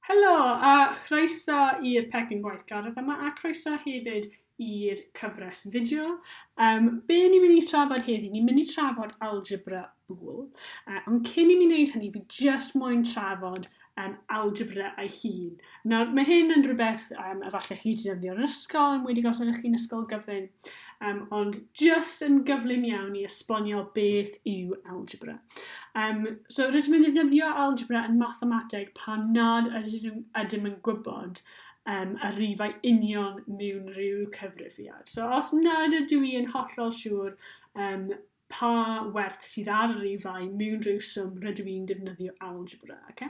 Helo a chroeso i'r Pecyn Gwaithgardd yma a croeso hefyd i'r cyfres fideo. Um, be ni'n mynd i trafod heddi? Ni'n mynd i trafod algebra bool. Uh, ond cyn i mi wneud hynny, fi just moyn trafod um, algebra ei hun. Nawr, mae hyn yn rhywbeth um, efallai chi wedi defnyddio yn yr ysgol, yn wedi gosod eich chi'n ysgol gyfyn. Um, ond just yn gyflym iawn i esbonio beth yw algebra. Um, so rydym yn ddefnyddio algebra yn mathemateg pan nad ydym, ydym yn gwybod um, y rifau union mewn rhyw cyfrifiad. So os nad ydw i yn hollol siŵr um, pa werth sydd ar yr rifau mewn rhyw swm rydw i'n defnyddio algebra. Okay?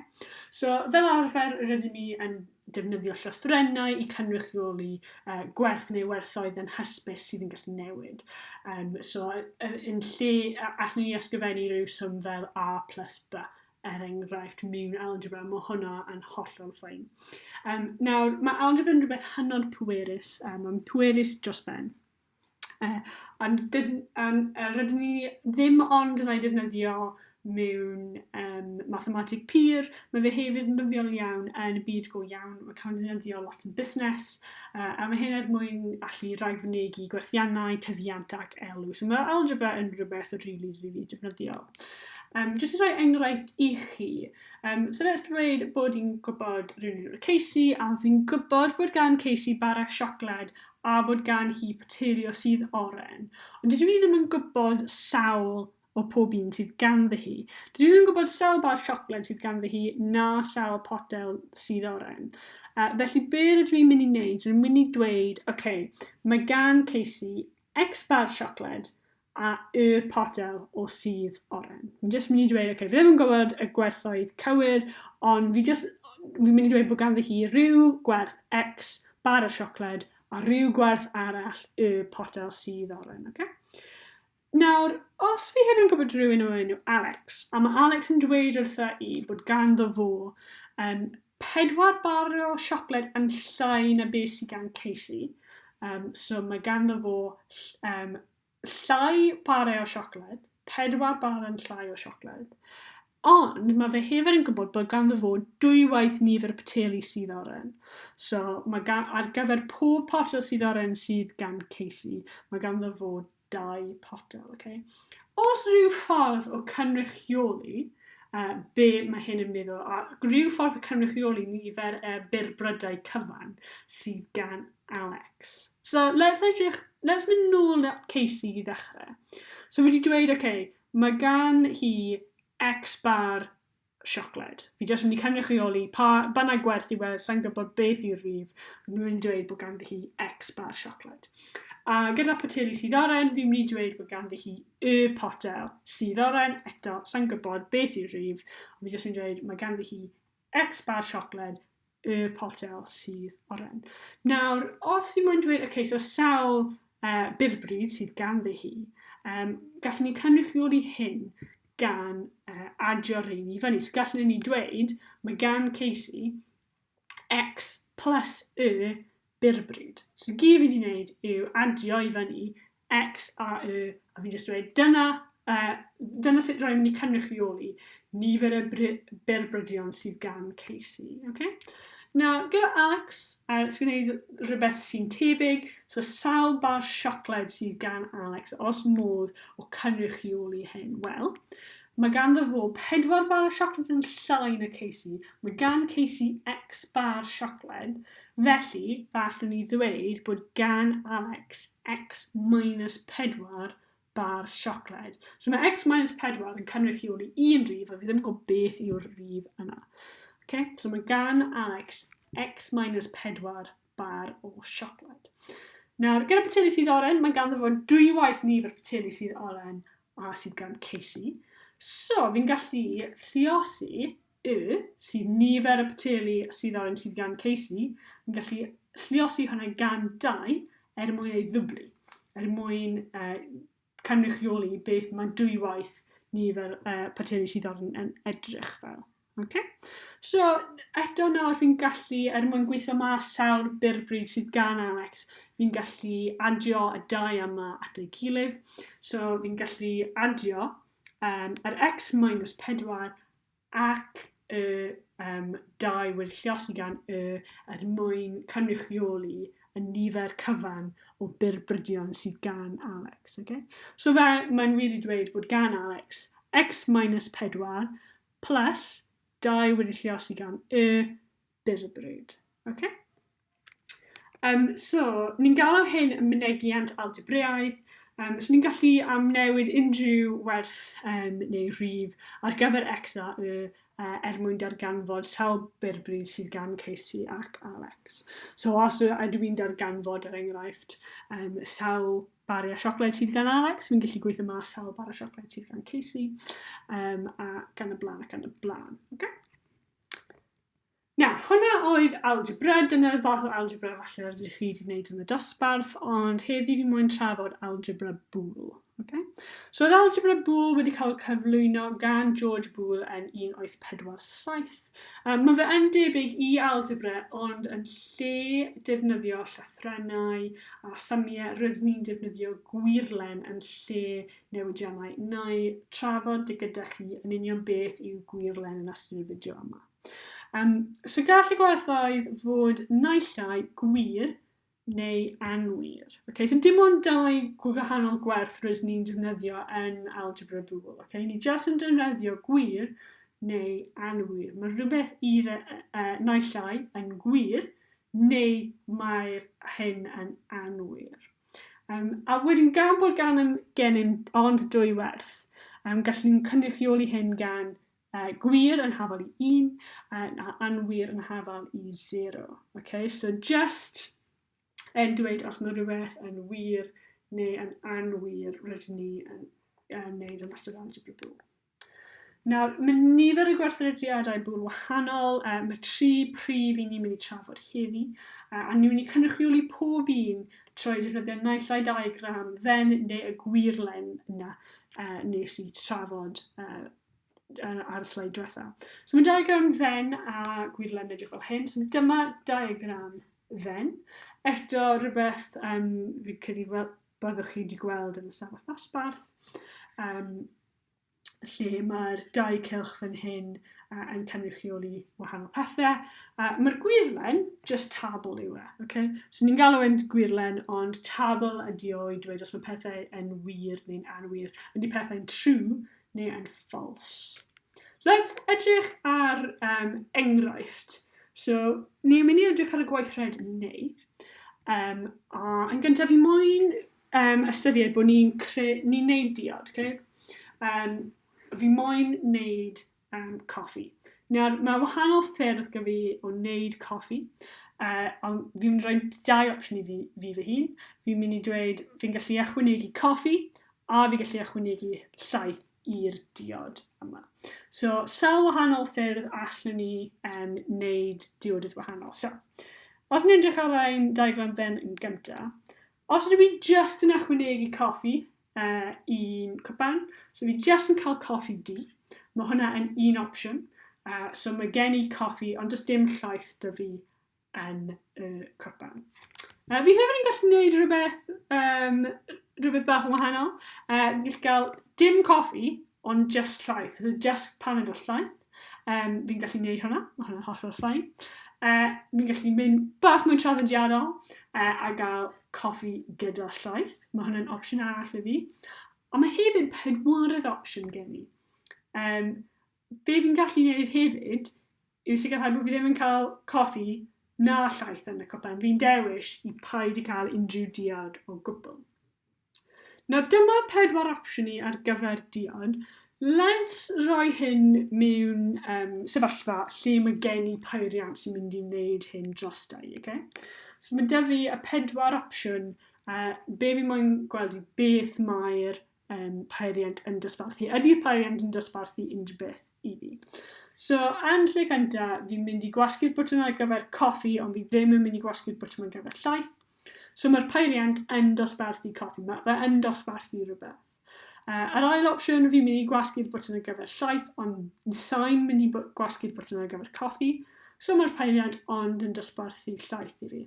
So, fel arfer, rydym ni yn defnyddio llythrennau i cynrychioli uh, gwerth neu werthoedd yn hysbys sydd yn gallu newid. Um, so, yn lle, allwn ni ysgrifennu rhyw swm fel a plus b er enghraifft mewn algebra, mae hwnna yn hollol ffain. Um, nawr, mae algebra yn rhywbeth hynod pwerus, um, mae'n pwerus dros ben. Yy ond dyd- yym yy rydyn ni ddim ond yn ei defnyddio mewn yym mathemateg pur, ma' fe hefyd yn ddyddiol iawn yn y byd go iawn, ma' cael ei defnyddio lot yn busnes, yy a ma' hyn er mwyn allu rhag fynegi gwerthiannau, tyfiant ac elw. So ma' algebra yn rhywbeth rili rili defnyddiol. Um, jyst i roi enghraifft i chi, um, so let's dweud bod i'n gwybod rhywun o'r Casey a fi'n gwybod bod gan Casey bara siocled a bod gan hi poteri o sudd oren, ond dydw i ddim yn gwybod sawl o pob un sydd ganddi hi. Dydw i ddim yn gwybod sawl bar siocled sydd ganddi hi, na sawl potel sudd oren. Uh, felly, be rydw i'n mynd i wneud? Rwy'n mynd i dweud, oce, okay, mae gan Casey X bar siocled, a y potel o sudd oren. Fi'n just mynd i dweud, okay, fi ddim yn gwybod y gwerthoedd cywir, ond fi just, fi'n mynd i dweud bod ganddi hi rhyw gwerth X bar o siocled a rhyw gwerth arall y potel sydd oren, okay? Nawr, os fi hefyd yn gwybod rhywun o'r enw Alex, a mae Alex yn dweud wrtha i bod ganddo fo um, Pedwar bar o siocled yn llai na be sy gan Casey. Um, so mae ganddo fo um, llai barau o siocled, pedwar bar yn llai o siocled. Ond mae fe hefyd yn gwybod bod ganddo fo dwywaith nifer y poteli sydd oren. So mae gan, ar gyfer pob potel sydd oren sydd gan Casey, mae ganddo fo dau potel, ok? Os rhyw ffordd o cynrychioli uh, be mae hyn yn meddwl, a rhyw ffordd o cynrychioli nifer y uh, byrbrydau cyfan sydd gan Alex. So, let's edrych, let's mynd nôl at Casey i ddechrau. So, fi wedi dweud, ok, mae gan hi X bar siocled. Fi jyst mynd i cynrychioli pa bynnag gwerth yw e, sa'n gwybod beth yw'r rif, nhw'n mynd i dweud bod ganddi hi X bar siocled. A gyda poteli sydd oren, fi'n mynd i dweud bod ganddi hi y potel sydd oren, eto, sa'n gwybod beth yw'r rif, ond fi jyst mynd i dweud mae ganddi hi X bar siocled y potel sydd oren. Nawr, os fi moyn dweud, okay, so sawl uh, byrbryd sydd ganddi hi, um, gallwn ni cynrychioli hyn gan uh, adio rhain i fyny. So gallwn ni dweud, mae gan Casey x plus y byr bryd. So i gyd fi wedi wneud yw adio i fyny X a Y a fi'n jyst dweud dyna, uh, dyna sut rwy'n mynd i cynrychioli nifer y byr brydion sydd gan Casey. Okay? Na, gyda Alex, uh, sy'n gwneud rhywbeth sy'n tebyg, so sawl bar siocled sydd gan Alex, os modd o cynrychioli hyn? Wel, Mae ganddo fo pedwar bar siocled yn llai na Casey. Mae gan Casey X bar siocled, felly fe allwn ni ddweud bod gan Alex X minus pedwar bar siocled. So mae X minus pedwar yn cynrychioli un rif a fi ddim yn gwybod beth yw'r rif yna. Okay? So mae gan Alex X minus pedwar bar o siocled. Nawr, gyda poteli sydd oren, mae ganddo fo'n dwy waith nifer poteli sydd oren a sydd gan Casey. So, fi'n gallu lliosi y sydd nifer y poteli sydd oren sydd gan Casey, fi'n gallu lliosi hwnna gan dau er mwyn ei ddwblu, er mwyn uh, cynrychioli beth mae dwywaith ni fel uh, partneri sydd ar yn edrych fel. Okay? So, eto nawr fi'n gallu, er mwyn gweithio ma sawl byrbryd sydd gan Alex, fi'n gallu adio y dau yma at ei gilydd. So, fi'n gallu adio um, yr x minus 4 ac y um, dau wŷr lluosi gan y er mwyn cynrychioli y nifer cyfan o byrbrydion sydd gan Alex. Okay? So fe, mae'n wir i dweud bod gan Alex x minus 4 plus 2 wedi lliosi gan y byrbryd. Okay? Um, so, ni'n galw hyn yn mynegiant algebreaidd, um, so ni'n gallu amnewid unrhyw werth um, neu rhif ar gyfer x a y uh, er mwyn darganfod sawl berbryd sydd gan Casey ac Alex. So os ydw i'n darganfod er enghraifft um, sawl bari a siocled sydd gan Alex, fi'n gallu gweithio mas sawl bar a siocled sydd gan Casey, um, a gan y blaen ac gan y blaen. Okay? Na, hwnna oedd algebra, dyna'r fath o algebra falle rydych chi wedi gwneud yn y dosbarth, ond heddi fi mwyn trafod algebra bŵl. Okay? So oedd algebra bŵl wedi cael cyflwyno gan George Bŵl yn 1847. Um, mae fe yn debyg i algebra, ond yn lle defnyddio llethrennau a symiau, rydyn ni'n defnyddio gwirlen yn lle newidiannau. Neu trafod dy gyda chi yn union beth yw gwirlen yn astudio fideo yma. Um, so gall y gwerthoedd fod naill ai gwir neu anwir. Okay, so dim ond dau gwahanol gwerth rydyn ni'n defnyddio yn algebra bŵl. Okay? Ni jyst yn defnyddio gwir neu anwir. Mae rhywbeth i uh, e, naill ai yn gwir neu mae'r hyn yn anwir. Um, a wedyn gan bod gan gennym ond dwy werth, um, gallwn ni'n cynrychioli hyn gan A, gwir yn hafal i un, a, a anwir yn hafal i zero. Okay? So just yn dweud os mae rhywbeth yn wir neu yn anwir rydyn ni yn, yn neud yn ystod algebra bwl. Nawr, mae nifer y gwerthrediadau bwl wahanol, uh, mae tri prif i ni'n mynd i trafod heddi, uh, a ni'n mynd i cynrychioli pob un trwy defnyddio naill ai diagram dden neu y gwirlen yna uh, nes i trafod uh, ar y slide diwetha. So mae diagram dden a gwirlen yn edrych fel hyn. So dyma diagram dden. Eto rhywbeth um, fi credu fel byddwch chi wedi gweld yn y safle ddosbarth. Um, lle mae'r dau cylch fan hyn uh, yn cynrychioli wahanol pethau. Uh, Mae'r gwirlen, just tabl yw e. Okay? So ni'n galw yn gwirlen, ond tabl ydi o i dweud os mae pethau yn wir neu'n anwir. Ydy pethau'n true neu yn false. Let's edrych ar um, enghraifft. So, ni'n mynd i edrych ar y gweithred neu. Um, a yn gyntaf, fi moyn um, ystyried bod ni'n ni wneud diod. Okay? Um, fi moyn wneud um, coffi. Nawr, mae wahanol ffyrdd gyda fi o wneud coffi. Uh, ond fi'n mynd i roi dau opsiwn i fi, fi fy hun. Fi'n mynd i dweud fi'n gallu ychwanegu coffi a fi gallu ychwanegu llaeth i'r diod yma. So, sawl wahanol ffyrdd allwn ni um, wneud diodydd wahanol. So, os ni'n edrych ar ein diagram ben yn gyntaf, os ydw i just yn ychwanegu coffi uh, i'n cwpan, so fi just yn cael coffi di, mae hwnna yn un opsiwn. Uh, so mae gen i coffi, ond does dim llaeth da fi yn y copan. Uh, fi hefyd yn gallu gwneud rhywbeth, um, rhywbeth bach yn wahanol. Uh, fi gallu cael dim coffi, ond just llaeth. So just paned o llaeth. Um, fi'n gallu gwneud hwnna, mae hwnna'n hollol ffain. Uh, fi'n gallu mynd bach mwy traddodiadol uh, a gael coffi gyda llaeth. Mae hwnna'n opsiwn arall i fi. Ond mae hefyd pedwarydd opsiwn gen i. Um, Be fi'n gallu neud hefyd yw sicrhau bo fi ddim yn ca'l coffi na llaeth yn y cwpan, fi'n dewis i paid i ca'l unrhyw diod o gwbl. Nawr dyma pedwar opsiwn i ar gyfer diod, let's roi hyn mewn um, sefyllfa lle mae gen i peiriant sy'n mynd i wneud hyn dros da i, okay? So mae dyfu y pedwar opsiwn, uh, be fi moyn gweld i beth mae'r um, peiriant yn dosbarthu. Ydy'r peiriant yn dosbarthu unrhyw beth i fi? So, yn lle gynta, fi'n mynd i gwasgu'r bwtwm ar gyfer coffi, ond fi ddim yn mynd i gwasgu'r bwtwm ar gyfer llaeth. So, mae'r peiriant yn dosbarthu coffi, mae fe yn dosbarthu rhywbeth. Uh, yr ail opsiwn, fi'n mynd i gwasgu'r bwtwm ar gyfer llaeth, ond sa'n mynd i gwasgu'r bwtwm ar gyfer coffi. So mae'r peiriant ond yn dosbarthu llaeth i fi.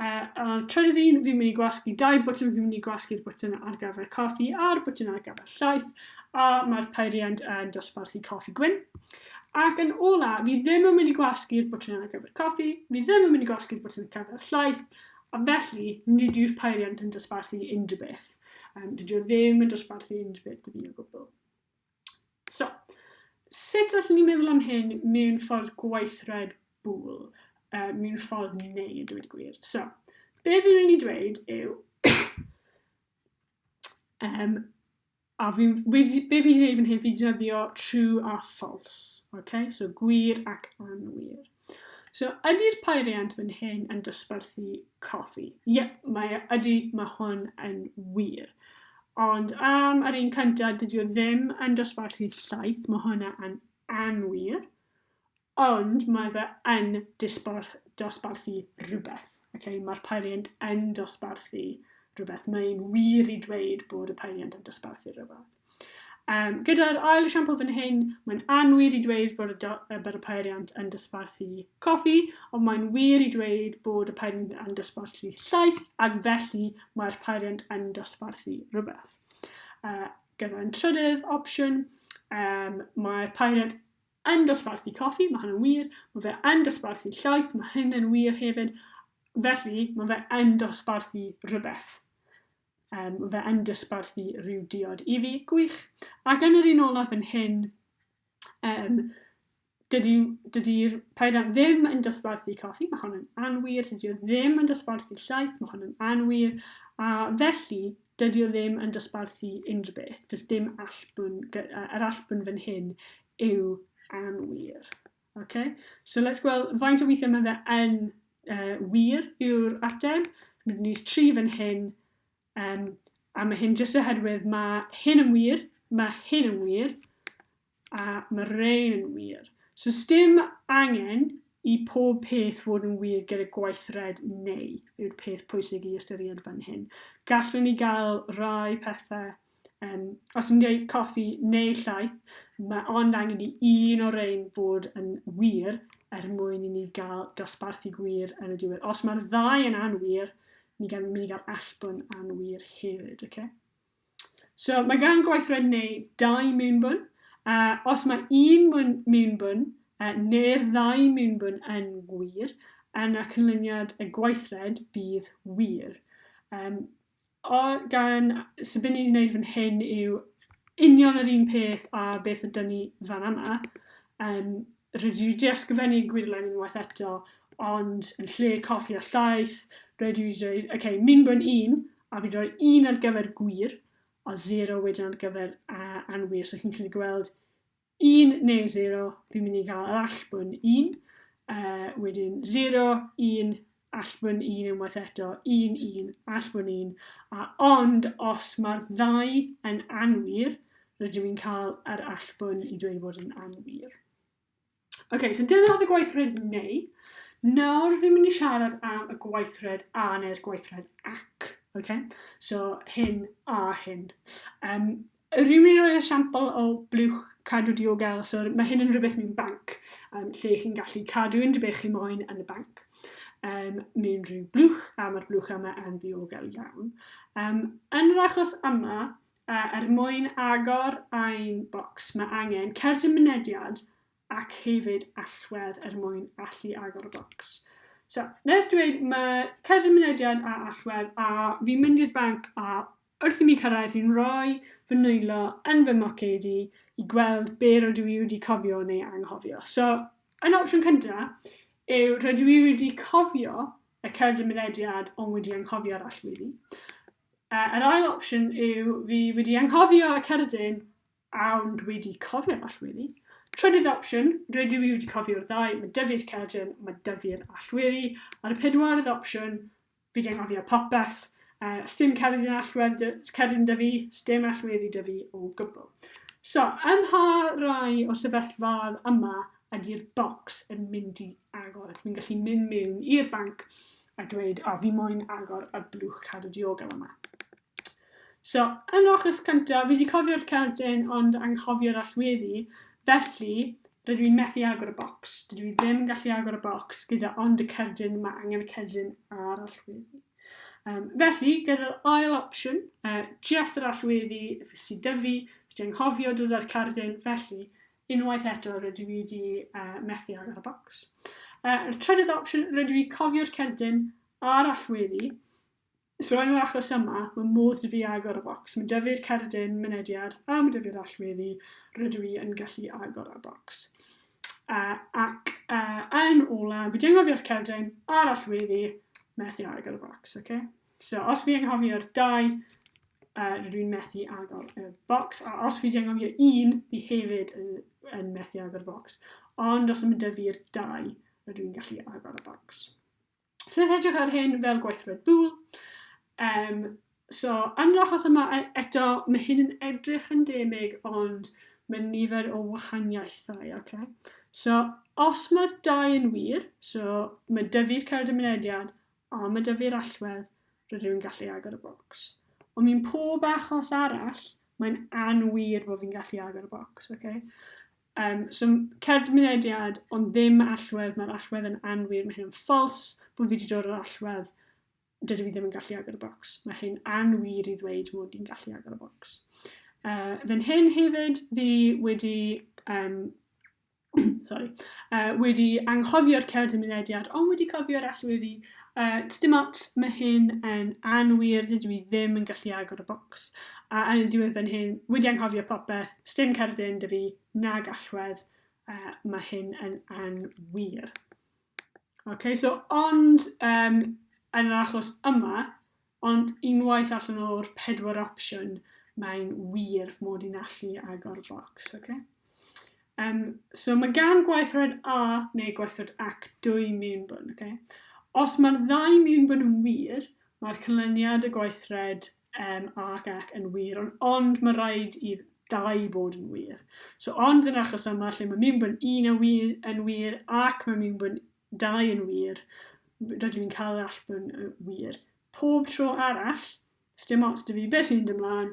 Uh, uh, trydydd un, fi'n mynd i gwasgu dau bwtyn, fi'n mynd i gwasgu'r bwtyn ar gyfer coffi a'r bwtyn ar gyfer llaeth, a mae'r peiriant yn dosbarthu coffi gwyn. Ac yn ola, fi ddim yn mynd i gwasgu'r bwtyn ar gyfer coffi, fi ddim yn mynd i gwasgu'r bwtyn ar gyfer llaeth, a felly nid yw'r peiriant yn dosbarthu unrhyw beth. Um, dydw i ddim yn dosbarthu unrhyw beth i fi o gwbl. So, sut allwn ni meddwl am hyn mewn ffordd gweithred bwl, uh, mewn ffordd neu, yn dweud gwir. So, be fi'n mynd i dweud yw, um, a fi, be fi wedi gwneud fan hyn, fi wedi dyddio true a false, okay? so gwir ac anwir. So, ydy'r peiriant fan hyn yn dosbarthu coffi? Ie, mae, ydy, mae hwn yn wir. Ond am yr un cyntaf, dydy o ddim yn dosbarthu llaeth, mae hwnna yn anwir. Ond mae fe yn disbarth, dosbarthu rhywbeth. Okay? Mae'r peiriant yn dosbarthu rhywbeth. Mae'n wir i dweud bod y peiriant yn dosbarthu rhywbeth. Um, gyda'r ail esiampl fan hyn, mae'n anwir i dweud bod y, y, bod y peiriant yn dysbarthu coffi, ond mae'n wir i dweud bod y peiriant yn dysbarthu llaeth, ac felly mae'r peiriant yn dysbarthu rhywbeth. Uh, gyda'n trydydd opsiwn, um, mae'r peiriant yn dysbarthu coffi, mae hynny'n wir, mae fe yn dysbarthu llaeth, mae hynny'n wir hefyd, felly mae fe yn dysbarthu rhywbeth. Yym, fe yn dysbarthu rhyw diod i fi. Gwych. Ac yn yr un olaf fan hyn, um, dydy, dydy Pairan ddim yn dysbarthu coffi, mae hon yn anwir, dydy o ddim yn dysbarthu llaeth, mae hon yn anwir, a felly dydy o ddim yn dysbarthu unrhyw beth, does dim allbwn, yr allbwn fan hyn yw anwir. Ok, so let's gweld faint o weithiau mae fe yn uh, wir yw'r ateb. Mae ni tri fan hyn, um, a mae hyn jyst oherwydd mae hyn yn wir, mae hyn yn wir, a mae rein yn wir. So stym angen i pob peth fod yn wir gyda gweithred neu yw'r peth pwysig i ystyried fan hyn. Gallwn ni gael rai pethau Um, os yn gwneud coffi neu llaeth, mae ond angen i un o'r ein bod yn wir er mwyn i ni gael dosbarthu gwir yn y diwedd. Os mae'r ddau yn anwir, ni gan mynd i gael allbwn anwir hefyd. Okay? So mae gan gweithred neu dau mewnbwn. Uh, os mae un mewnbwn uh, neu'r ddau mewnbwn yn wir, yna cynlyniad y gweithred bydd wir. Um, O, gan, so be ni'n wneud fan hyn yw union yr un peth a beth ydan ni fan yma. Um, rydw i wedi ysgrifennu gwirlen unwaith eto, ond yn lle coffi a llaeth, rydw i wedi dweud, oce, okay, min gwn un, a fi roi un ar gyfer gwir, a zero wedyn ar gyfer uh, anwir. So chi'n gallu gweld 1 neu 0, fi'n mynd i gael yr allbwn 1, uh, wedyn 0, 1, allbwn 1 unwaith eto, 1, 1, allbwn 1, a ond os mae'r ddau yn anwir, rydw i'n cael yr allbwn i dweud bod yn anwir. Oce, okay, so dyna oedd y gweithred neu. Nawr fi'n mynd i siarad am y gweithred a neu'r gweithred ac. Okay? So hyn a hyn. Um, Yr un yn rhoi esiampl o blwch cadw diogel, so mae hyn yn rhywbeth mewn banc, um, lle chi'n gallu cadw unrhyw beth chi moyn yn y banc um, mewn rhyw blwch, a mae'r blwch yma yn ddiogel iawn. Um, yn yr achos yma, uh, er mwyn agor ein bocs, mae angen cerdyn mynediad ac hefyd allwedd er mwyn allu agor y bocs. So, nes dweud, mae cerdyn mynediad a allwedd, a fi'n mynd i'r banc a Wrth i mi cyrraedd fi'n rhoi fy nwylo yn fy moced i i gweld be rydw i wedi cofio neu anghofio. So, yn opsiwn cynta yw rydw i wedi cofio y cyrd y mynediad ond wedi anghofio'r allweddi. Uh, yr ail opsiwn yw fi wedi anghofio y cerdyn ond wedi cofio'r allweddi. Trydydd opsiwn, rydw i wedi cofio'r ddau, mae dyfu'r cerdyn, mae dyfu'r allweddi. A'r pedwaredd opsiwn, Fi'n anghofio popeth. Yy, sdim cerdyn allwedd dy- cerdyn 'da fi, sdim allweddi 'da fi o gwbl. So, ym mha rai o sefyllfaoedd yma ydy'r bocs yn mynd i agor? Ydw i'n gallu mynd mewn i'r banc a dweud, o, fi moyn agor y blwch cadw diogel yma? So, yn yr achos cynta, fi 'di cofio'r cerdyn ond anghofio'r allweddi, felly rydw i'n methu agor y bocs. Dydw i ddim yn gallu agor y bocs gyda ond y cerdyn, mae angen y cerdyn a'r allweddi. Um, felly, gyda'r ail opsiwn, uh, just yr allweddi sydd dy fi, fi 'di anghofio dod â'r cerdyn, felly unwaith eto rydw i wedi uh, methu agor y bocs. Uh, y trydydd opsiwn, rydw i cofio'r cerdyn a'r allweddi, Os rwy'n yr achos yma, mae modd 'da fi agor y bocs. Mae 'da fi'r cerdyn mynediad a mae 'da fi'r allweddi, rydw i yn gallu agor y bocs. Uh, ac uh, yn ola, fi di anghofio'r cerdyn a'r allweddi, methu agor y bocs, oce? Okay? So, os fi anghofio'r dau, uh, rydw i'n methu agor y bocs, a os fi wedi anghofio un, fi hefyd yn, yn methu agor y bocs. Ond os ymwneud i'r dau, rydw i'n gallu agor y bocs. So let's edrych ar hyn fel gweithred bŵl. Um, so yn yr achos yma e, eto, mae hyn yn edrych yn demig ond mae nifer o wahaniaethau. Okay? So os mae'r dau yn wir, so mae dyfu'r cerdd y mynediad a mae dyfu'r allwedd, rydw i'n gallu agor y bocs. Ond mi'n pob achos arall, mae'n anwir bod fi'n gallu agor y bocs. Okay? Yym, so cerdyn mynediad, ond ddim allwedd, mae'r allwedd yn anwir, mae hyn yn false, bod fi wedi dod o'r allwedd, dydw i ddim yn gallu agor y bocs. Mae hyn anwir i ddweud mod i'n gallu agor y bocs. Uh, fe'n hyn hefyd, fi wedi, um, sorry, uh, wedi anghofio'r cerdyn mynediad, ond wedi cofio'r allweddi Yy, dim ots, mae hyn yn anwir, dydw i ddim yn gallu agor y bocs. A yn diwedd fan hyn, wedi anghofio popeth, sdim cerdyn dy fi, nag allwedd, uh, mae hyn yn anwir. Okay, so ond um, yn yr achos yma, Ond unwaith allan o'r pedwar opsiwn, mae'n wir mod i'n allu agor bocs, ok? Um, so mae gan gweithred A neu gweithred ac dwy mewnbwn, ok? Os mae'r ddau mewnbwn yn wir, mae'r canlyniad y gweithred um, A ac ac yn wir, ond, ond mae rhaid i'r dau bod yn wir. So ond yn achos yma lle mae mewnbwn un yn wir, yn wir ac mae mewnbwn dau yn wir, rydw i'n cael yr allp yn uh, wir. Pob tro arall, sdim ots dy fi beth sy'n mynd ymlaen,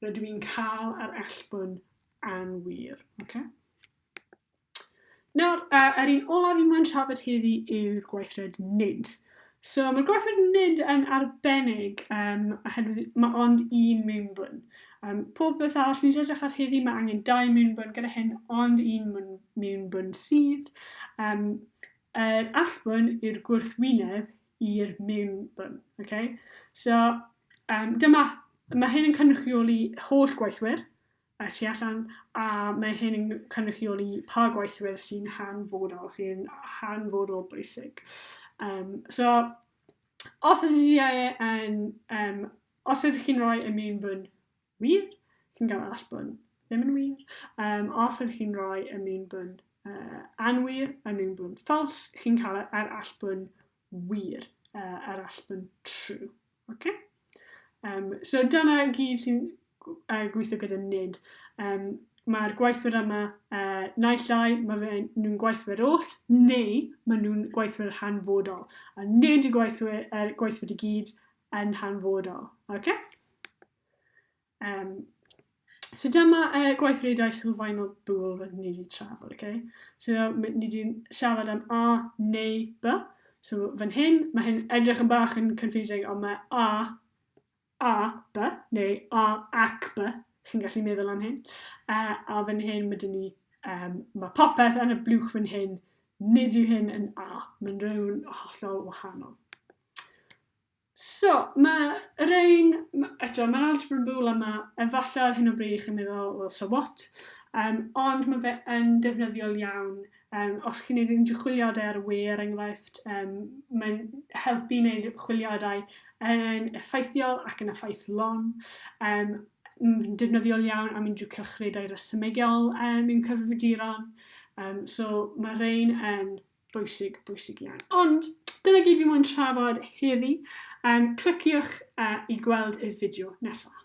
rydw i'n cael yr allp yn anwir. Okay? Nawr, uh, yr un olaf i mwyn trafod heddi yw'r gweithred nid. So mae'r gwaith nid yn arbennig um, oherwydd mae ond un mewnbwn. Um, pob beth arall ni'n edrych ar heddi mae angen dau mewnbwn gyda hyn ond un mewnbwn sydd. Um, yr allbwn i'r gwrthwyneb i'r mewnbwn. Okay? So um, dyma, mae hyn yn cynrychioli holl gweithwyr y tu allan, a mae hyn yn cynrychioli pa gweithwyr sy'n hanfodol, sy'n hanfodol bwysig. Um, so, os ydych chi yn, um, os ydych chi'n rhoi y mewn bwn wir, chi'n cael all bwn ddim yn wir. Um, os ydych chi'n rhoi y mewn bwn uh, anwir, y mewn bwn ffals, chi'n cael yr all bwn wir uh, a'r allbwn true. Okay? Um, so dyna gyd sy'n uh, gweithio gyda nid. Um, Mae'r gweithwyr yma uh, naill ai mae fe nhw'n gweithwyr oll neu mae nhw'n gweithwyr hanfodol. A nid y gweithwyr, er, gweithwyr i gyd yn hanfodol. Okay? Um, So dyma uh, e, gweithredoedd sylfaenol bwl rydyn ni wedi trafod, okay? So ni wedi siarad am A neu B. So fan hyn, mae hyn edrych yn bach yn confusing, ond mae A, A, B, neu A ac B, chi'n gallu meddwl am hyn. Uh, a fan hyn, mae dyn ni, um, mae popeth yn y blwch fan hyn, nid yw hyn yn A, mae'n rhywun hollol wahanol. So, ma' rein, ma', eto, ma'r algebra yn fwy le ma', efalle ar hyn o bryd chi'n meddwl, wel so what? Yym, ond ma' fe yn defnyddiol iawn, yym, os chi'n neud unrhyw chwiliadau ar y we er enghraifft, yym, mae'n helpu i neud chwiliadau yn effeithiol ac yn effeithlon, yym, m- defnyddiol iawn am unrhyw cylchredau resymegol yym mewn cyfrifiaduron, yym, so ma' rein yn Bwysig, bwysig iawn. Ond, dyna gyd fi moyn trafod heddi. Um, cliciwch uh, i gweld y fideo nesaf.